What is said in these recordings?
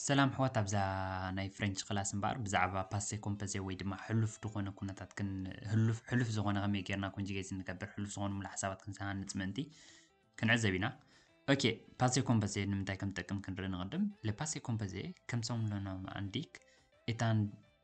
ሰላም ኣሕዋት ኣብዛ ናይ ፍሬንች ክላስ እምበኣር ብዛዕባ ፓሴ ኮምፐዘ ወይ ድማ ሕሉፍ ዝኾነ ኩነታት ሕሉፍ ዝኾነ ከመይ ጌርና ኮንጅጌት ንገብር ሕሉፍ ዝኾኑ ሙሉ ሓሳባት ክንሰሃንፅ ምእንቲ ክንዕዘብ ኢና ኦኬ ፓሴ ኮምፐዘ ንምንታይ ከም ጠቅም ክንርኢ ንቕድም ለፓሴ ኮምፐዘ ከም ሰሙለኖም ኣንዲክ እታን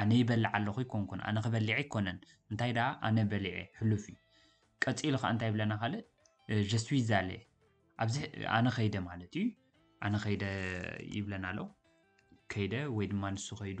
ኣነ ይበልዕ ኣለኹ ኣይኮንኩን ኣነ ክበሊዐ ኣይኮነን እንታይ ደኣ ኣነ በሊዐ ሕሉፍ እዩ ቀጺሉ ከኣ እንታይ ይብለና ካልእ je suis allé ኣብዚ ኣነ ከይደ ማለት እዩ ኣነ ከይደ ይብለና ኣሎ ከይደ ወይ ድማ ንሱ ከይዱ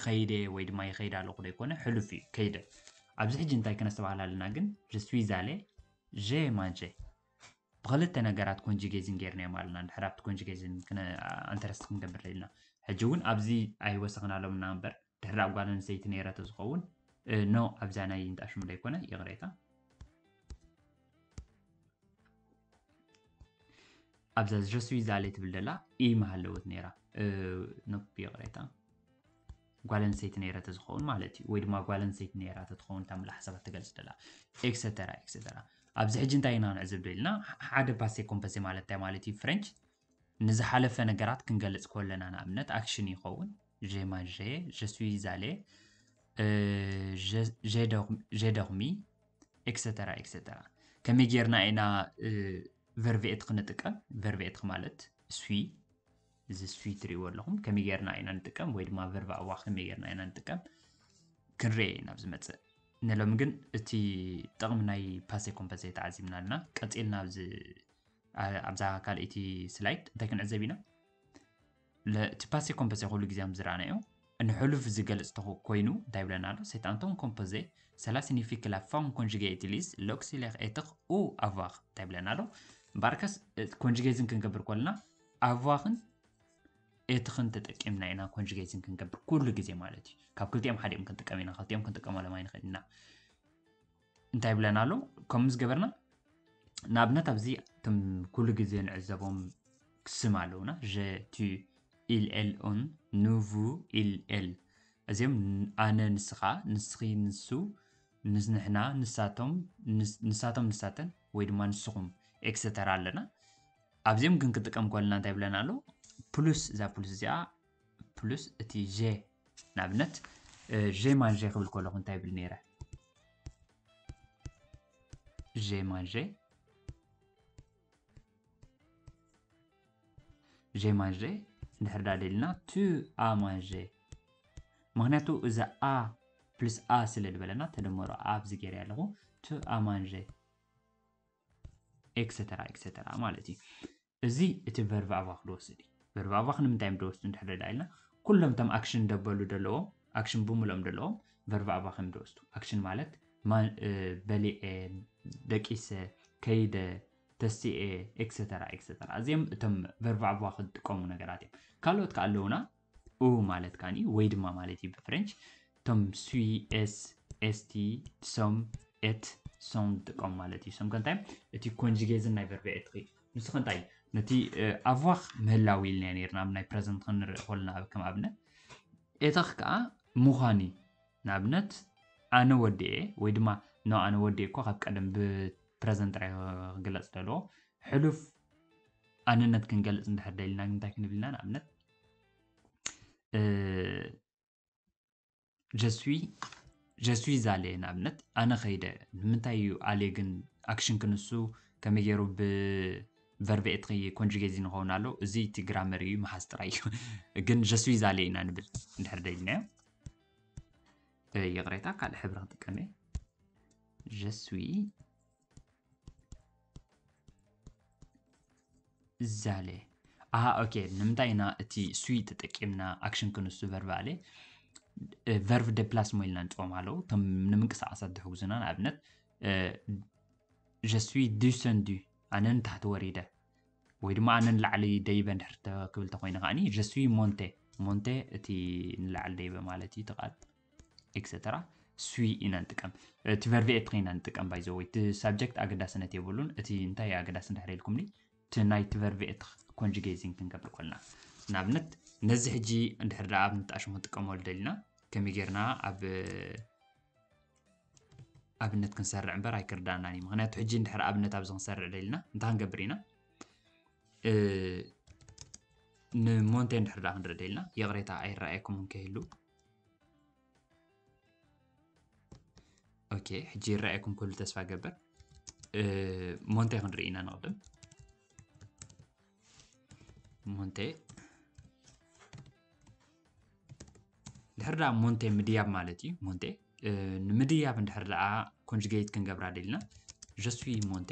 ከይደ ወይ ድማ ይኸይድ ኣለኹ ዶ ይኮነ ሕሉፍ እዩ ከይደ ኣብዚ ሕጂ እንታይ ክነስተባህል ኣለና ግን je suis allé j'ai mangé ብክልተ ነገራት ኮንጂጌዝን ጌርናዮም ኣለና ድሕር ኣብቲ ኮንጂጌዝን ኣንተረስት ክንገብር ደልና ሕጂ እውን ኣብዚ ኣይወሰኽናሎምና እምበር ድሕር ኣብ ጓል ኣንስተይቲ ነይረ ተዝኸውን ኖ ኣብዛ ናይ እንጣሽሙ ዘይኮነ ይቕሬታ ኣብዛ ዝረስቢ ዛለ ትብል ደላ ኢ መሃለወት ነይራ ኖ ይቕሬታ ጓል ኣንስተይቲ ነይረ ተዝኸውን ማለት እዩ ወይ ድማ ጓል ኣንስተይቲ ነይራ ተትኸውን እታ ምላ ሓሳባት ትገልጽ ደላ ኤክሰተራ ኤክሰተራ ኣብዚ ሕጂ እንታይ ኢና ንዕዝብ ዶ ኢልና ሓደ ፓሴ ኮምፐሴ ማለት እንታይ ማለት እዩ ፍሬንች ንዝሓለፈ ነገራት ክንገልጽ ከለና ንኣብነት ኣክሽን ይኸውን ዤ ማንዤ ዠስዊ ዛሌ ዤ ደርሚ ኤክሰተራ ኤክሰተራ ከመይ ጌርና ኢና ቨርቪኤት ክንጥቀም ቨርቪኤት ማለት ስዊ እዚ ስዊት ትሪእዎ ኣለኹም ከመይ ጌርና ኢና ንጥቀም ወይ ድማ ቨርባ እዋ ከመይ ጌርና ኢና ንጥቀም ክንርኤ ኢና ኣብ ዝመፅእ ንሎሚ ግን እቲ ጥቕሚ ናይ ፓሴ ኮምፐሰ ተዓዚብና ኣለና ቀፂልና ኣብዚ ኣብዛ ካልኣይቲ ስላይድ እንታይ ክንዕዘብ ኢና እቲ ፓሴ ኮምፐሰ ኩሉ ግዜ ከም ዝረኣናዮ ንሕሉፍ ዝገልፅ ኮይኑ እንታይ ብለና ኣሎ ሴታንቶም ኮምፖዘ ሰላ ሲኒፊክ ላ ፋም ኮንጅጌ ኢትሊስ ሎክሲሌክ ኤትኽ ኡ ኣቫኽ እንታይ ብለና ኣሎ እምበኣርከስ ኮንጅጌዝን ክንገብር ኮልና ኣቭዋክን ኤትክን ተጠቂምና ኢና ኮንጅጌትን ክንገብር ኩሉ ግዜ ማለት እዩ ካብ ክልቲኦም ሓዲኦም ክንጥቀም ኢና ክልቲኦም ክንጥቀመሎም ኣይንኽእል ኢና እንታይ ብለና ኣሎ ከም ምስ ገበርና ንኣብነት ኣብዚ እቶም ኩሉ ግዜ ንዕዘቦም ስም ኣለውና ጀቲ ኢልኤልኦን ኑቭ ኢልኤል እዚኦም ኣነ ንስኻ ንስኺ ንሱ ንሕና ንሳቶም ንሳቶም ንሳተን ወይ ድማ ንስኹም ኤክሰተራ ኣለና ኣብዚኦም ግን ክንጥቀም ከለና እንታይ ይብለና ኣሎ ፕሉስ እዛ ፕሉስ እዚኣ ፕሉስ እቲ ዤ ንኣብነት ዤ ማን ዤ ክብል ከለኹ እንታይ ይብል ነይረ ዤ ማን ዤ ዤ ማን ዤ እንድሕር ዳ ደልና ቱ ኣ ማን ዤ ምክንያቱ እዚ ኣ ፕልስ ኣ ስለ ዝበለና ተደመሮ ኣብዚ ገይረ ኣለኹ ቱ ኣ ማን ዤ ኤክሰተራ ኤክሰተራ ማለት እዩ እዚ እቲ ቨርብ ኣባኽ ድወስድ እዩ ቨርብ ኣባኽ ንምንታይ ድወስዱ እንድሕር ዳ ኢልና ኩሎም እቶም ኣክሽን ደበሉ ደለዎም ኣክሽን ብምሎም ደለዎም ቨርብ ኣባኽ እዮም ድወስዱ ኣክሽን ማለት በሊዐ ደቂሰ ከይደ ተስኤ ኤክሰተራ ኤክሰተራ እዚኦም እቶም ቨርብ ኣባኽ ዝጥቀሙ ነገራት እዮም ካልኦት ከ ኣለውና ኡ ማለት ከኣ ወይ ድማ ማለት እዩ ብፍረንች እቶም ስዊ ኤስ ኤስቲ ሶም ኤት ሶም ዝጥቀሙ ማለት እዩ ሶም ከንታይ እቲ ኮንጅጌዝን ናይ ቨርቢ ኤት ንሱ ከንታይ እዩ ነቲ ኣቫኽ ምህላው ኢልና ነርና ኣብ ናይ ፕረዘንት ክንርኢ ኮልና ኣብ ከም ኣብነት ኤተኽ ከዓ ምዃን እዩ ንኣብነት ኣነ ወዲ እየ ወይ ድማ ኖ ኣነ ወዲ እኮ ካብ ቀደም ብፕረዘንት ጥራይ ክግለፅ ዘለዎ ሕሉፍ ኣንነት ክንገልፅ እንድሕር ደሊና እንታይ ክንብል ኢና ንኣብነት ጀስዊ ጀስዊ ዛለ ንኣብነት ኣነ ከይደ ንምንታይ እዩ ኣለ ግን ኣክሽን ክንሱ ከመይ ገይሩ ብቨርብ ኤትኺ ኮንጅጌዚ ንኸውን ኣሎ እዚ እቲ ግራመር እዩ መሓዝ ጥራይ እዩ ግን ጀስዊ ዛለ ኢና ንብል እንድሕር ደይልናዮ ይቕሬታ ካልእ ሕብሪ ክጥቀም እየ ጀስዊ ዛለ ኣሃ ኦኬ ንምንታይ ኢና እቲ ስዊ ተጠቂምና ኣክሽን ክንሱ ቨርብ ኣለ ቨርብ ደፕላስ ሞ ኢልና ንፅኦም ኣለዉ እቶም ንምንቅስቃሳት ዝሕግዙና ንኣብነት ጀስዊ ዱሰንዱ ኣነ ንታሕቲ ወሪደ ወይ ድማ ኣነ ንላዕሊ ደይበ ንድሕር ክብል ተኮይነ ከዓኒ ጀስዊ ሞንቴ ሞንቴ እቲ ንላዕሊ ደይበ ማለት እዩ ተቃል ኤክሰተራ ስዊ ኢና ንጥቀም እቲ ቨርቢ ኤፕ ኢና ንጥቀም ባይ ዘወይ እቲ ሳብጀክት ኣገዳስነት የብሉን እቲ እንታይ ኣገዳሲ እንድሕር ኢልኩምኒ እቲ ናይ እቲ ቨርቢ ኤት ኮንጅጌዚንግ ክንገብር ኮልና ንኣብነት ነዚ ሕጂ እንድሕር ደኣ ኣብ ንጣሽ ክንጥቀመሉ ደሊና ከመይ ጌርና ኣብ ኣብነት ክንሰርዕ እምበር ኣይክርዳእናን እዩ ምክንያቱ ሕጂ እንድሕር ኣብነት ኣብዚ ክንሰርዕ ደሊና እንታይ ክንገብር ኢና ንሞንቴ እንድሕር ደኣ ክንርኢ ደሊና ይቕሬታ ኣይረኣየኩም እንከይህሉ ኦኬ ሕጂ ይረኣየኩም ክህሉ ተስፋ ገበር ሞንቴ ክንርኢ ኢና ንቕድም ሞንቴ ድሕር ደኣ ሞንቴ ምድያብ ማለት እዩ ሞንቴ ንምድያብ እንድሕር ደኣ ኮንጅጌት ክንገብራ ደልና ጀስዊ ሞንቴ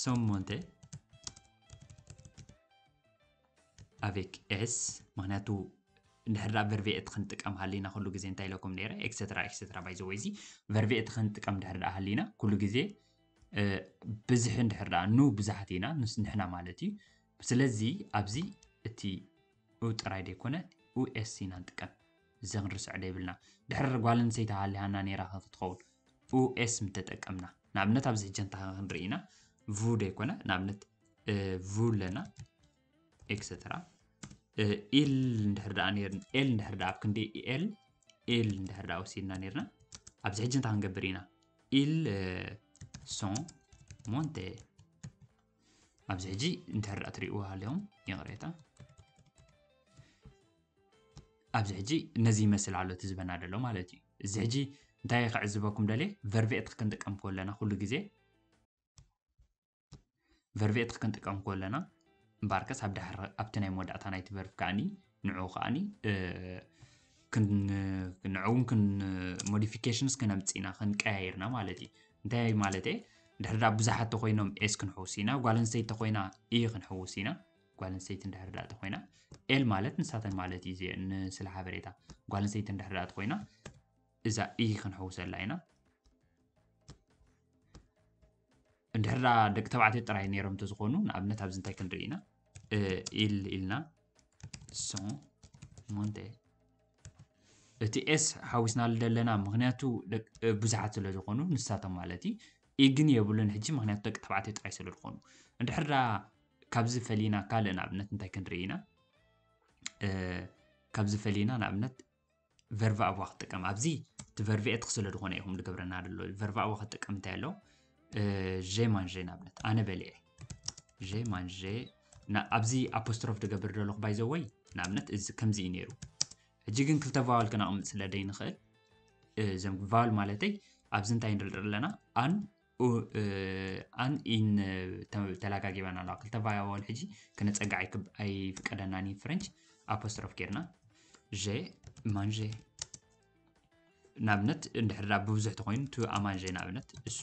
ሰሞንተ ኣቬክ ኤስ ምክንያቱ እንድሕር ደኣ ቨርቪኤት ክንጥቀም ሃሊና ኩሉ ግዜ እንታይ ኢለኩም ነይረ ኤክሰትራ ኤክሰትራ ባይ ዘወይ እዚ ቨርቪኤት ክንጥቀም እንድሕር ደኣ ሃሊና ኩሉ ግዜ ብዝሒ እንድሕር ደኣ ኑ ብዙሓት ኢና ንሕና ማለት እዩ ስለዚ ኣብዚ እቲ ኡ ጥራይ ደይኮነ ኡ'ስ ኢና ንጥቀም እዘ ክንርስዖ ደይብልና ድሕር ጓል ኣንሰይቲ ሃሊሃና ነይራ ከ ክትኸውን ኡ'ስ ምተጠቀምና ንኣብነት ኣብዚ ሕጂ እንተ ክንርኢ ኢና ቭ ደይኮነ ንኣብነት ቭ ኣለና ኤክሰትራ ኢል እንድሕር ደኣ ነይርን ኤል እንድሕር ደኣ ኣብ ክንዲ ኤል ኤል እንድሕር ደኣ ወሲድና ነይርና ኣብዚ ሕጂ እንታይ ክንገብር ኢና ኢል ሶን ሞንቴ ኣብዚ ሕጂ እንድሕር ደኣ ትሪእዎ ሃሊኹም ይቕሬታ ኣብዚ ሕጂ ነዚ ይመስል ኣሎ እቲ ዝበና ደሎ ማለት እዩ እዚ ሕጂ እንታይ ክዕዝበኩም ደልየ ቨርቬት ክንጥቀም ከለና ኩሉ ግዜ ቨርቬት ክንጥቀም ከለና እምበኣርከስ ኣብ ድሕሪ ኣብቲ ናይ መወዳእታ ናይቲ ቨርብ ከዓኒ ንዑ ከዓኒ ንዕውን ሞዲፊኬሽንስ ክነምፅና ክንቀያይርና ማለት እዩ እንታይ ማለት እየ ድሕር ዳ ብዙሓት ተኮይኖም ኤስ ክንሕውስ ኢና ጓል ኣንስተይቲ ተኮይና ኢ ክንሕውስ ኢና ጓል ኣንስተይቲ እንድሕር ዳ ተኮይና ኤል ማለት ንሳተን ማለት እዩ እዚአ ንስለ ሓበሬታ ጓል ኣንስተይቲ እንድሕር ዳ ተኮይና እዛ ኢ ክንሕውሰላ ኢና እንድሕር ደቂ ተባዕትዮ ጥራይ ነይሮም እንተዝኾኑ ንኣብነት ኣብዚ እንታይ ክንርኢ ኢና ኢል ኢልና ሶ ሞንቴ እቲ ኤስ ሓዊስናሉ ዘለና ምክንያቱ ብዙሓት ስለ ዝኾኑ ንሳቶም ማለት እዩ ኢግን የብሉን ሕጂ ምክንያቱ ደቂ ተባዕትዮ ጥራይ ስለ ዝኾኑ እንድሕር ዳ ካብዚ ፈሊና ካልእ ንኣብነት እንታይ ክንርኢ ኢና ካብዚ ፈሊና ንኣብነት ቨርቫ ኣዋ ክትጥቀም ኣብዚ እቲ ቨርቭ ኤት ክስለ ዝኾነ ኢኹም ዝገብረና ደሎ ቨርቫ ኣዋ ክትጥቀም እንታይ ኣሎ ዤ ማንዤ ንኣብነት ኣነ በሊዐ ዤ ማንዤ ኣብዚ ኣፖስትሮፍ ዝገብር ደለኹ ባይዘወይ ንኣብነት እዚ ከምዚ እዩ ነይሩ ሕጂ ግን ክልተ ቫዋል ክነቕምጥ ስለ ደይንኽእል እዞም ቫዋል ማለተይ ኣብዚ እንታይ ንርኢ ኣለና ኣን ኡኣን ኢን ተላጋጊባና ኣለዋ ክልተ ቫያዎል ሕጂ ክነፀግዕ ኣይፍቀደናን እዩ ፍረንች ኣፖስትሮፍ ጌርና ዤ ማንዤ ንኣብነት እንድሕር ብብዙሕ ተኮይኑ ቱ ኣማንዤ ንኣብነት እሱ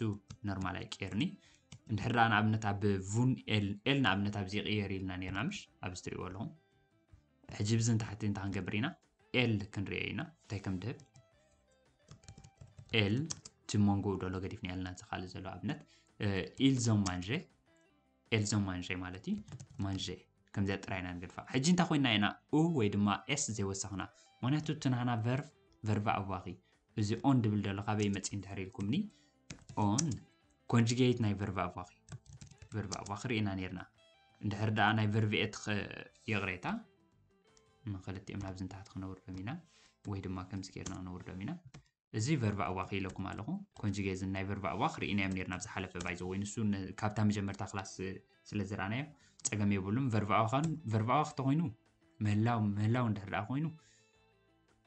ኖርማል ኣይቀየርኒ እንድሕር ንኣብነት ኣብ ቡን ኤል ኤል ንኣብነት ኣብዚ ይቅየር ኢልና ነርና ምሽ ኣብዚ ትሪእዎ ኣለኹም ሕጂ ብዚ ንታሕቲ እንታይ ክንገብር ኢና ኤል ክንርእዮ ኢና እንታይ ከም ድህብ ኤል እቲ መንጎኡ ደሎ ገዲፍና ያልና እዚ ካልእ ዘሎ ኣብነት ኢልዞም ማንዠ ኤልዞም ማንዠ ማለት እዩ ማንዠ ከምዚኣ ጥራይ ኢና ንገድፋ ሕጂ እንታይ ኮይና ኢና ኡ ወይ ድማ ኤስ ዘይወሰኽና ምክንያቱ እቲ ናህና ቨርቭ ቨርቭ ኣዋኺ እዚ ኦን ድብል ደሎ ካበይ መፅእ እንድሕር ኢልኩምኒ ኦን ኮንጅጌት ናይ ቨርብ ኣባኺ ቨርብ ኣባኺ ርኢና ነርና እንድሕር ደኣ ናይ ቨርብ ኤት ይቕሬታ ንክልቲኦም ናብዚ ንታሕቲ ክነውርዶም ኢና ወይ ድማ ከምዚ ጌርና ክነውርዶም ኢና እዚ ቨርብ ኣባኺ ኢለኩም ኣለኹ ኮንጅጌት ናይ ቨርብ ኣባኽ ርኢናዮም ነርና ኣብ ዝሓለፈ ባይዘ ወይ ንሱ ካብታ መጀመርታ ክላስ ስለ ዝረኣናዮ ፀገም የብሉም ቨርብ ኣባኻን ቨርብ ኣባኽ ተኮይኑ ምህላው ምህላው እንድሕር ደኣ ኮይኑ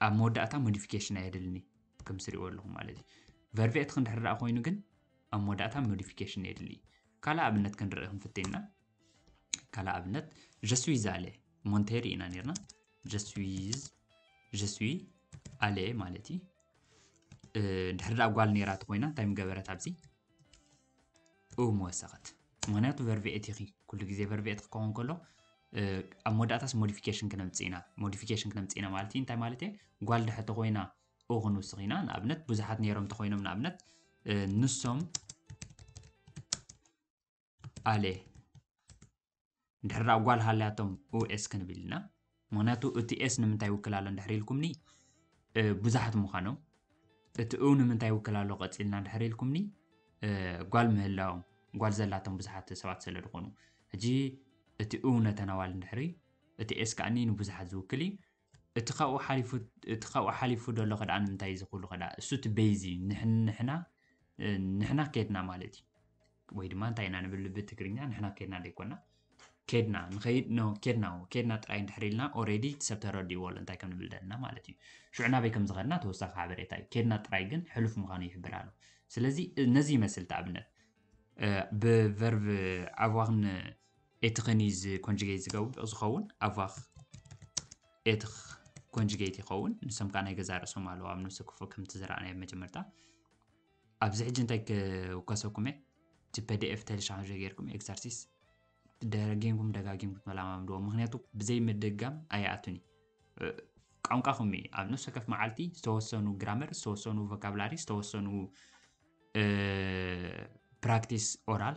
ኣብ መወዳእታ ሞዲፊኬሽን ኣየድልኒ ከምዚ ትሪእዎ ኣለኹም ማለት እዩ። ቨርቬትክ እንድሕር ደኣ ኮይኑ ግን ኣብ መወዳእታ ሞዲፊኬሽን የድሊ እዩ። ካልእ ኣብነት ክንርኢ ክንፍትን ኢና። ካልእ ኣብነት ጀስዊዝ ኣለ ሞንቴሪ ኢና ነርና ጀስዊዝ ጀስዊ ኣለ ማለት እዩ። ድሕሪ ደኣ ጓል ነይራ እንተኮይና እንታይ ምገበረት ኣብዚ እም ወሰኸት ምክንያቱ ቨርቪኤት ኢኺ ኩሉ ግዜ ቨርቪኤት ክኸውን ከሎ ኣብ መወዳእታስ ሞዲፊኬሽን ክነምፅእ ኢና ሞዲፊኬሽን ክነምፅእ ኢና ማለት እዩ እንታይ ማለት እየ ጓል ድሐ ተኮይና ኦ ክንውስኽ ኢና ንኣብነት ብዙሓት ነይሮም እንተኮይኖም ንኣብነት ንሶም ኣሌ እንድሕር ደኣ ጓል ሃልያቶም ኡኤስ ክንብል ኢና። ምኽንያቱ እቲ ኤስ ንምንታይ ይውክል ኣሎ እንድሕር ኢልኩምኒ ብዙሓት ምዃኖም፣ እቲ ኡ ንምንታይ ይውክል ኣሎ ቀጺልና እንድሕር ኢልኩምኒ ጓል ምህላዎም ጓል ዘላቶም ብዙሓት ሰባት ስለ ዝኾኑ ሕጂ እቲ ኡ ነተን ኣዋል እንድሕሪ እቲ ኤስ ከኣኒ ንብዙሓት ዝውክል እዩ። እቲ ካብኡ ሓሊፉ እቲ ካብኡ ሓሊፉ ደሎ ከደኣ እንታይ እዚ ኩሉ ከደኣ እሱ እቲ ቤዝ እዩ ንሕና ንሕና ከድና ማለት እዩ ወይ ድማ እንታይ ኢና ንብል ብትግርኛ ንሕና ከድና ዘይኮና ኬድና ንኸይድ ኖ ኬድና ኬድና ጥራይ እንድሕር ኢልና ኦሬዲ እቲ ሰብ ተረዲእዎ ኣሎ እንታይ ከም ንብል ደለና ማለት እዩ ሽዑ ናበይ ከም ዝኸድና ተወሳኺ ሓበሬታ እዩ ኬድና ጥራይ ግን ሕሉፍ ምዃኑ ይሕብር ኣሎ ስለዚ ነዚ ይመስል ተኣብነት ብቨርቭ ኣዋኽን ኤትኽ ን እዩ እዚ ኮንጅገይት ዝገብ ዝኸውን ኣቫኽ ኤትኽ ኮንጅገይት ይኸውን ንሶም ከዓ ናይ ገዛ ርእሶም ኣለዎ ኣብ ነብሲ ክፉ ከምቲ ዝረኣናዮ መጀመርታ ኣብዚ ሕጂ እንታይ ክውከሰኩም እየ እቲ ፐዲኤፍ ተልሻን ጌርኩም ኤግዛርሲስ ደጋጊምኩም ደጋጊምኩም ተለማምድዎ ምክንያቱ ብዘይ ምድጋም ኣይኣቱን እዩ ቋንቋኹም እዩ ኣብ ነፍሲ ወከፍ መዓልቲ ዝተወሰኑ ግራመር ዝተወሰኑ ቮካብላሪ ዝተወሰኑ ፕራክቲስ ኦራል